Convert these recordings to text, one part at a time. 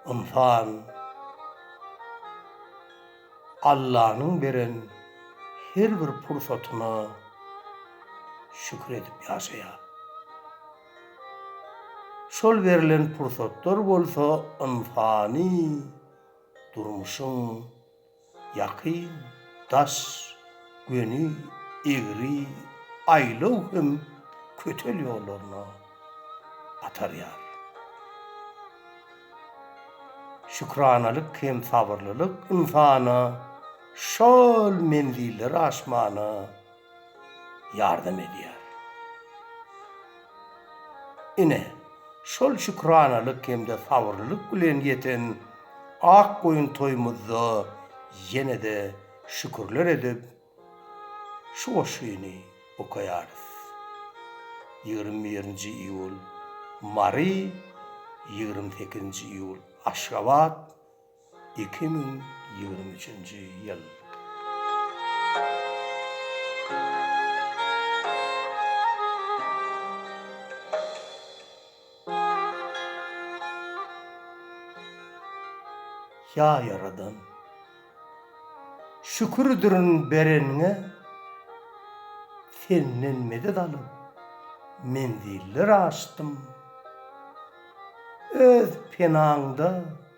Ynsan Allanyň beren her bir pursatyna şükür edip ýaşaýar. Şol berlen pursatlar bolsa ynsany durmuşyň ýakyn, daş, göni, egri, aýlaw hem kötel ýollaryna atarýar. Şükranalyk hem sabyrlylyk ynsana şol menzilleri aşmana, ýardam edýär. Ine, şol şükranalyk hem-de sabyrlylyk bilen ýeten ak goýun toýumyzda ýene-de şükürler edip, şu goşgyny okaýarys. Ýigrimi birinji iýul, Mary, ýigrimi sekizinji iýul, Aşgabat, Iki müň ýigrimi üçünji ýyl. Ýa Ýaradan! Şükürdirin bereniňe, Senden medet alyp, menziller aşdym. Öz penaňda.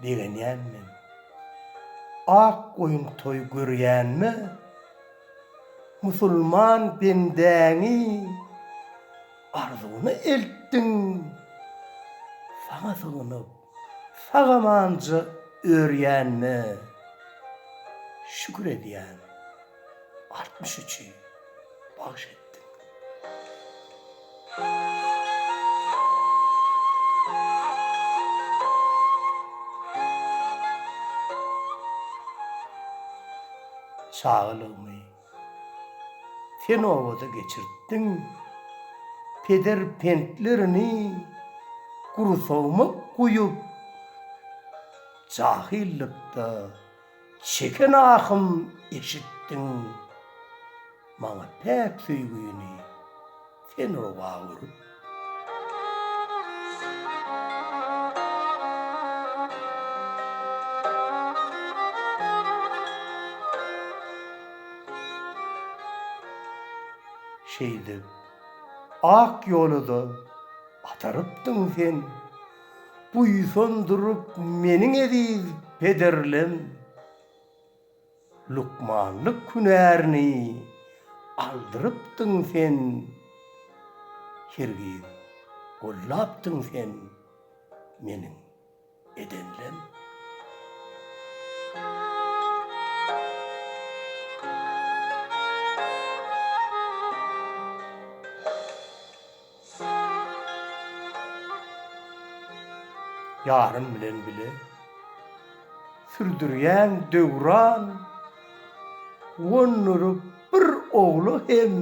begenýän men. Ak goýun toý görýänme, musulman bendäňi arzuwyna eltdiň. Saňa sygynyp, sag-amanja örýänme, şükür edýän. altmyş üçi bagş etdim. Çagalygymy sen obada geçirtdiň, peder pentlerini gursagma guýup, jahillykda. Çeken ahym eşitdiň maňa päk söýgini sen oba örüp. Şeýdip ak ýola-da atarypdyň sen. Buýsan durup meniň eziz pederlem, Lukmanlyk hünärini aldyrypdyň sen, Hergiz gollapdyň sen meniň edenlem. Ýarym bilen bile sürdürýän döwran gonduryp bir ogla hem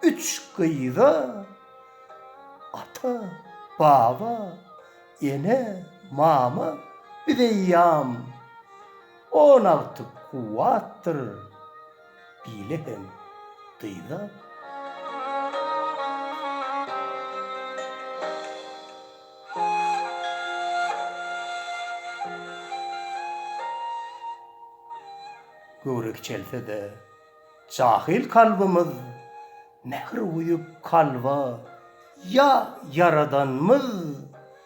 üç gyza ata, baba, ene, mama biz eýýam on alty kuwwatdyr. Bile hem gyza. Göwre kiçelse-de, jahyl kalbymyz Mähir guýup kalba, ýa Ýaradanmyz?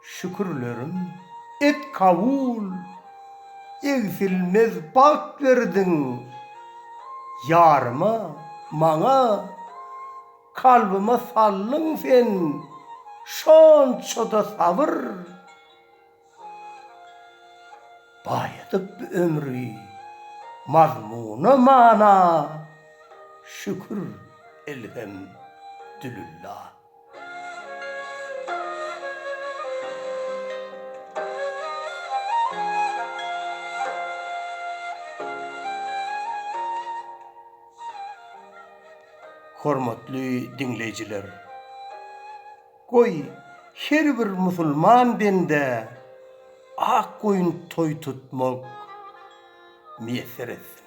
Şükürlerim et kabul, egsilmez bagt berdiň ýaryma, maňa, kalbyma saldyň sen şonça-da sabyr, baýadyp bu ömri mazmuna, mana, şükür elhem dülillah. Hormatly diňleýjiler! Goý, her bir musulman bendä ak goýun toý tutmak miýesser etsin!